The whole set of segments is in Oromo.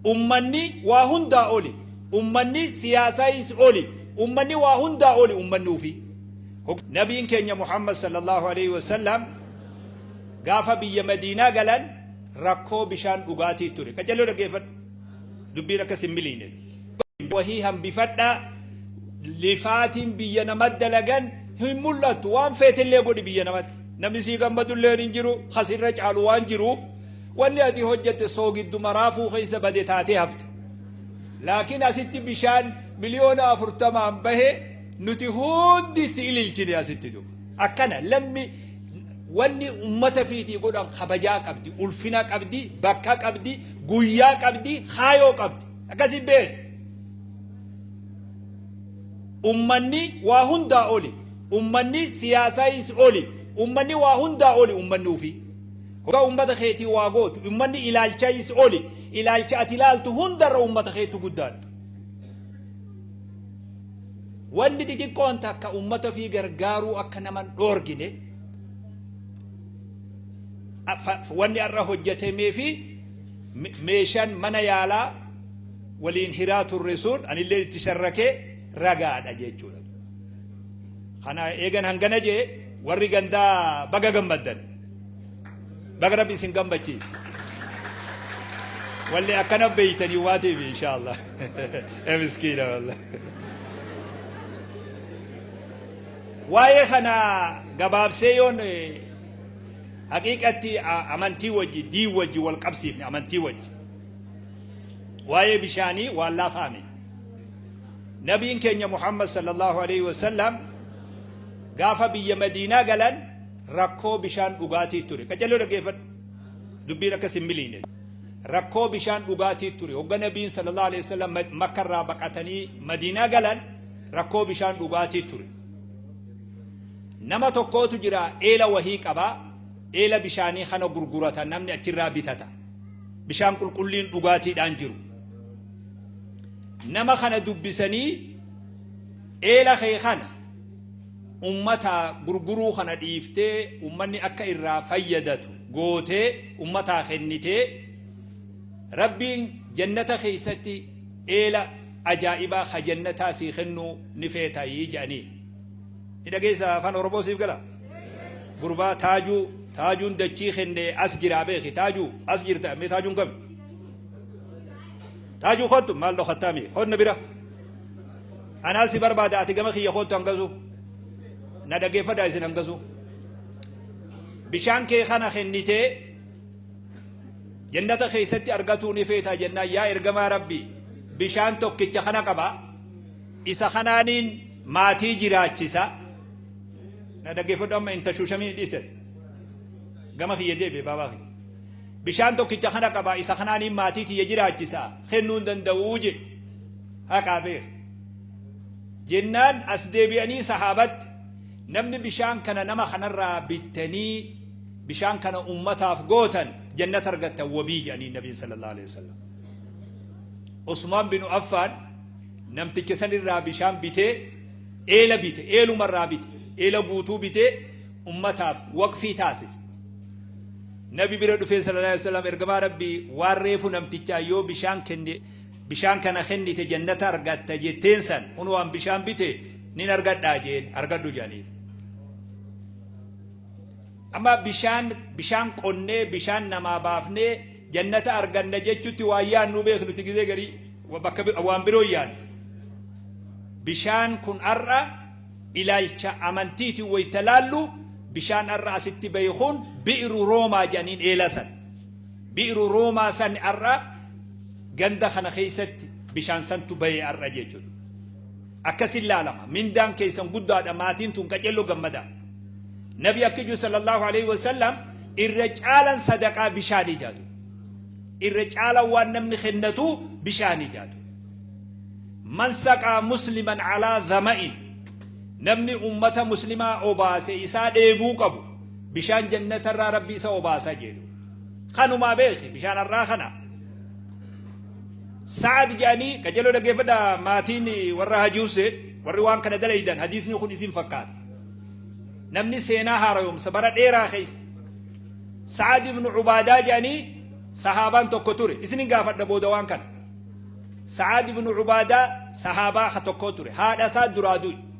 Ummanni waa hundaa oli. Ummanni siyaasaayis oli. Ummanni waa hundaa oli ummanni ufii. Nabiin keenya Muhammad sallallahu aleyhi wa sallam gaafa biyya Madiinaa galan rakkoo bishaan dhugaatii ture. Qacello dhaggeeffadhu. Dubbiin akka sin miliine. Wahii hambifadhaa lifaatiin biyya namat dalagan hin mul'attu waan feetillee godhi biyya namatti. Namni sii gammadulleen hin jiru, kas irra caalu waan jiruuf Wanni ati hojjatte soogidduma raafuu keessa bade taatee hafte. Laakiin asitti bishaan miliyoona afurtamaan bahe nuti hundi itti ililchine asitti duuba. Akkana lammi wanni ummata fiitii godhan kabajaa qabdi, ulfina qabdi, bakka qabdi, guyyaa qabdi, kaayoo qabdi. Akkasi beeki. Ummanni waa hundaa oli. Ummanni siyaasaayis oli. Ummanni waa hundaa oli ummanni ofii. Hoga ummata keetii waa gootu, ummanni ilaalcha is oli. Ilaalcha ati ilaaltu hundarra ummata keetu guddaadha. Wanni xixiqqoon takka ummata ofii gargaaruu akka nama hin dhoorgine fa- wanni har'a hojjetamee fi me- meeshaan mana yaalaa waliin hiraa turre sun anillee itti sharrakee ragaadha jechuudha. Kana eegan hangana jee warri gandaa baga gammaddan. Baga rabbi isin gammachiise. Wallee akkana beeytanii waatiif inshaallah. E miskiina wallah. Waa'ee kana gabaabsee yoon eh, haqiiqatti a- amantii wajji dii wajji wal qabsiifne amantii wajji. Waa'ee bishaanii waan laafaa miti. Nabiin keenya Muhammad sallallahu alaihi wasallam gaafa biyya Madiinaa galan Rakkoo bishaan dhugaatii ture. Qaccalloo dhaggeeffadhu. Dubbiin akka sin miliine. Rakkoo bishaan dhugaatii ture. Hogga Nabiin sallallahu alaihi wasallam Makka irraa baqatanii Madiinaa galan rakkoo bishaan dhugaatii ture. Nama tokkootu jira eela wahii qaba. Eela bishaanii kana gurgurata namni achirraa bitata. Bishaan qulqulliin dhugaatiidhaan jiru. Nama kana dubbisanii eela kee kana ummata gurguruu kana dhiiftee ummanni akka irraa fayyadatu gootee ummataa kennitee Rabbiin jannata keessatti eela ajaa'ibaa ka jannataa sii kennuu ni feetaayii jedhaniin. Ni dhageessa afaan Oromoo siif gala? Gurbaa taajuu taajuun dachii kenne as jiraa beeki taajuu as jirta mee taajuun kami? Taajuu kottu maal dhokattaa mee konna bira? Anaa si barbaada ati gama kiyya koottu hangasu. Na dhaggeeffadhaa isin hangasu. Bishaan kee kana kennitee jannata keessatti argatuu ni feetaa jennaan yaa ergamaa rabbi bishaan tokkicha kana qaba isa kanaaniin maatii jiraachisa na dhaggeeffadhu amma inta shuushamii dhiisate gama kiyya deebi'e baabaa kiyya bishaan tokkicha kana qaba isa kanaaniin maatii tiyya jiraachisa kennuu hin danda'uu jedhe haqaa beeka. Jennaan as deebi'anii sahaabatti namni bishaan kana nama kanarraa bittanii bishaan kana ummataaf gootan jannata argattan wabii jedhanii nabiin sallallahu alaihi wasallam. Usmaan bin Affaan namticha sanirraa bishaan bitee eela bite eelumarraa bite eela guutuu bitee ummataaf waqfii taasise. Nabi bira dhufee sallallahu alaihi wasallam ergamaa rabbii waan reefu namtichaa yoo bishaan kenne Bishaan kana kennite jannata argatta jetteen san kunoo an bishaan bite nin argadhaa jeen argadhu jedhaniin. Amma bishaan bishaan qonnee bishaan namaa baafnee jannata arganna jechutti waan yaannuu beeknuti gizee garii bakka waan biroo yaannu. Bishaan kun har'a ilaalcha amantiiti wayita laallu bishaan har'a asitti bahe kun bi'iru roomaa jedhaniin eela san. Bi'ru Roomaa san har'a ganda kana keessatti bishaan santu bahee har'a jechuudha. Akkasin laalama. Mindaan keessan guddaadha maatiin tun qacello gammadaa. Nabi akka jiru sallallahu alaihi wasallam irra caalan sadaqaa bishaanii jaatu. Irra caalan waan namni kennatu bishaanii jaatu. Man saqaa musliman alaa zama'in namni ummata muslimaa obaase isaa dheebuu qabu. Bishaan jannata irraa rabbi isa obaasa jedhu kanumaa beeki bishaan har'aa kana sa'ad jedhanii qajeeloo dhaggeeffadha maatiin warra hajuuse warri waan kana dalaydan hadiisni kun isin fakkaata namni seenaa haarayomsa bara dheeraa keessa sa'ad ibnu ubaadaa jedhanii sahaabaan tokko ture isinin gaafadha booda waan kana sa'ad ibnu ubaadaa sahaabaa tokko ture haadha isaa duraa du'e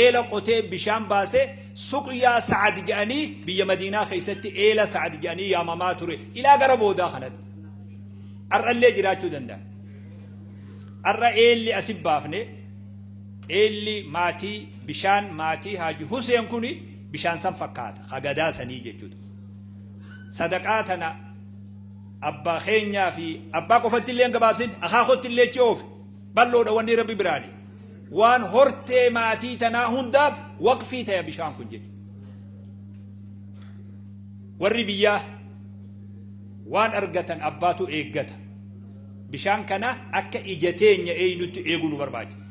eela qotee bishaan baase suqyaa sa'ad jedhanii biyya madiinaa keessatti eela sa'ad jedhanii yaamamaa ture ilaa gara boodaa kanatti har'allee jiraachuu danda'a har'a eelli asi baafne eelli maatii bishaan maatii haaji huseen kun bishaan san fakkaata hagadaa sanii jechuudha sadaqaa tana abbaa keenyaa fi abbaa qofatti illee gabaabsin akaa kotti illee chi oofe Bal'oodha wanni Rabbi biraani. Waan hortee maatii tanaa hundaaf waqfii taya bishaan kun jedhe. Warri biyyaa waan argatan abbaatu eeggata. Bishaan kana akka ija teenya eeynutti eeguu nu barbaachisa.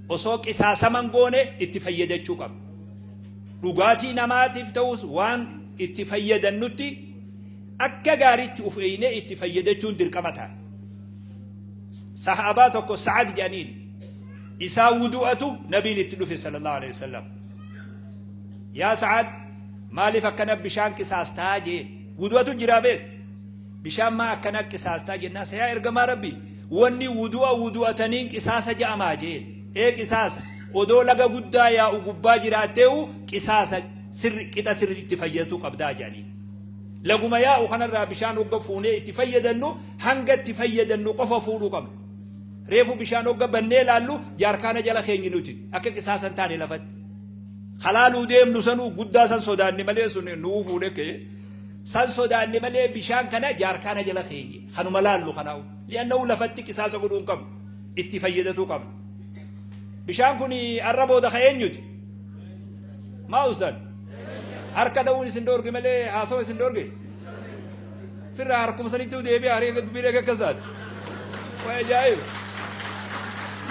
Osoo qisaasaman goone itti fayyadachuu qabna. Dhugaatii namaatiif ta'us waan itti fayyadannutti akka gaariitti of eeynee itti fayyadachuun dirqama ta'a. Sahaabaa tokko Sa'ad jedhaniin isaa wudu'atu nabiin itti dhufe sallallahu alaihi wasallam. Yaa Sa'ad maaliif akkana bishaan qisaastaa jeen wudu'atu jiraa beek bishaan maa akkana qisaastaa jennaa sayaa ergamaa rabbi wanni wudu'a wudu'ataniin qisaasa ja'amaa jeen ee qisaasa odoo laga guddaa yaa'u gubbaa jiraatteewu qisaasa sirri qixa sirri itti fayyaduu qabdaa jedhanii laguma yaa'u kanarraa bishaan hogga fuunee itti fayyadannuu hanga itti fayyadannu qofa fuudhuu qabna. Reefu bishaan hogga bannee laallu jaarkaana jala keenyi nuti akka qisaasan taane lafatti. Halaaluu deemnu sanuu guddaa san sodaanne malee sun nuu fuudhe kee. San sodaanne malee bishaan kana jaarkaana jala keenye kanuma laallu kanaa'u. Li'annahu lafatti qisaasa godhuu hin qabnu. Itti fayyadatuu qabna. Bishaan kun arra booda ka eenyuti? Maa ustaan? Harka ta'uun isin dhoorge malee haasawa isin dhoorge? Firraa harkuma sanittuu deebi'e haree akka dubbii dhagee akkas taate. Waa ajaa'iba.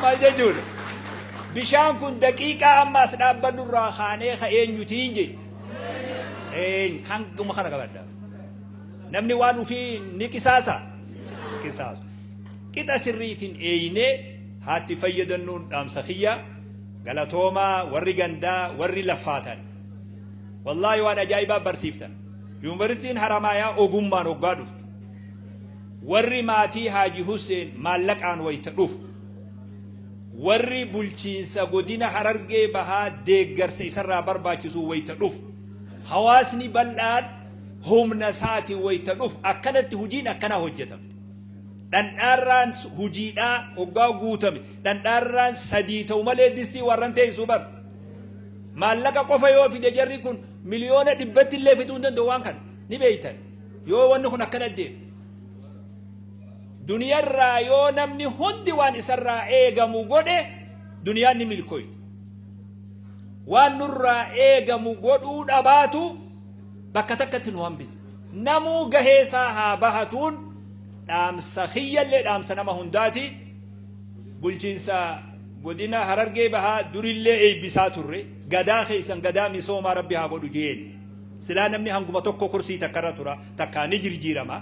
Maal jechuudha? Bishaan kun daqiiqaa amma as dhaabbannu irraa kaanee ka eenyutiin jedhe. Eenyu hanguma kana qabadha. Namni waan ofii ni qisaasa. Qisaasa. Qixa sirriitiin eeynee haatti fayyadamnuun dhaamsa kiyya galatoomaa warri gandaa warri laffaatan. Wallaahi waan ajaa'ibaa barsiiftan. Yuunivarsiitiin Haramaayaa ogummaan oggaa dhuftu warri maatii Haaji Husseen maallaqaan wayita dhufu warri bulchiinsa godina Harargee bahaa deeggarsa isarraa barbaachisu wayita dhufu hawaasni bal'aan humna isaatiin wayita dhufu akkanatti hojiin akkanaa hojjetamte. Dhandhaarraan hojiidhaa oggaa guutame dhandhaarraan sadii ta'u malee distii warran teessuu bar. maallaqa qofa yoo fide jarri kun miliyoona dhibbatti illee fiduu hin danda'u waan kana ni beeytan yoo wanni kun akkana deemu. Duniyarraa yoo namni hundi waan isarraa eegamu godhe duniyaan ni milkooyte. Waan nurraa eegamu godhuu dhabaatu bakka takkatti nu hambise. Namuu gaheesaa haa bahatuun dhaamsa kiyyallee dhaamsa nama hundaati. Bulchiinsa godina Harargee Bahaa durillee eebbisaa turre. Gadaa keessan gadaa misoomaa rabbi haa godhu jeeni. Silaa namni hanguma tokko kursii takkarra tura takkaa ni jirjiirama.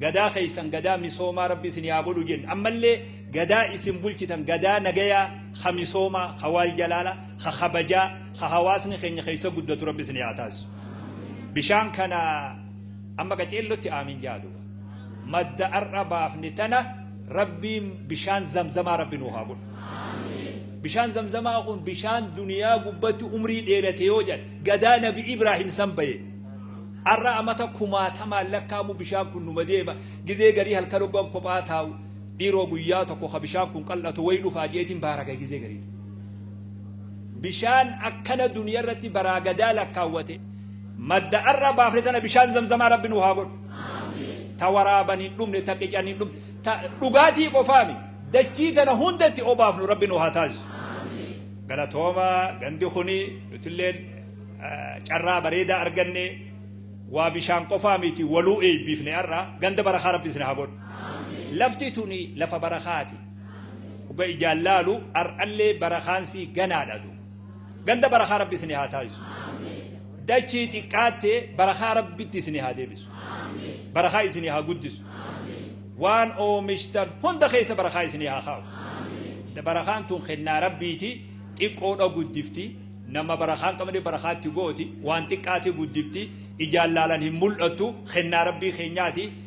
Gadaa keessan gadaa misoomaa rabbi isin haa godhu jenna. Ammallee gadaa isin bulchitan gadaa nagayaa ha misoomaa ha waal jalaala ha kabajaa ha hawaasni keenya keessa guddatu rabbi isin haa taasisu. Bishaan kana amma qaceellotti aamin jaadu. madda ar'a baafne tana Rabbiin bishaan zamzamaa Rabbi nuu haa godhu. Bishaan zamzamaa kun bishaan duniyaa gubbatti umrii dheerate yoo jedhe gadaa nabi Ibraahim san baye. Arra amata kumaatamaan lakkaamu bishaan kun numa deema gizee garii halkan hoggan kophaa taa'u dhiiroo guyyaa tokko ka bishaan kun qal'atu wayi dhufaa jeetiin baaraga gizee garii. Bishaan akkana duniyaa irratti baraa gadaa lakkaawwate madda ar'a baafne tana bishaan zamzamaa Rabbi nuu haa godhu. ta waraaban hin dhumne ta qican hin dhumne ta dhugaatii qofaami dachii tana hundatti obaafnu rabbi nu haa taasisu galatooma gandi kuni nutilleen eh, carraa bareedaa arganne waa bishaan qofaa miti waluu eebbifne har'a ganda barakaa rabbi isin haa godhu lafti tuni lafa barakaati dhuga ijaan laalu har'allee barakaansi ganaadha tu Ganda barakaa rabbi isin haa taasisu. Dachii xiqqaattee barakaa rabbitti isin haa deebisu. Barakaa isin haa guddisu. Waan oomishtan hunda keessa barakaa isin haa kaa'u. Barakaan tun kennaa rabbiiti xiqqoodha guddifti. Nama barakaan qabne barakaatti gooti waan xiqqaatee guddifti ijaan laalan hin mul'attu kennaa rabbii keenyaati.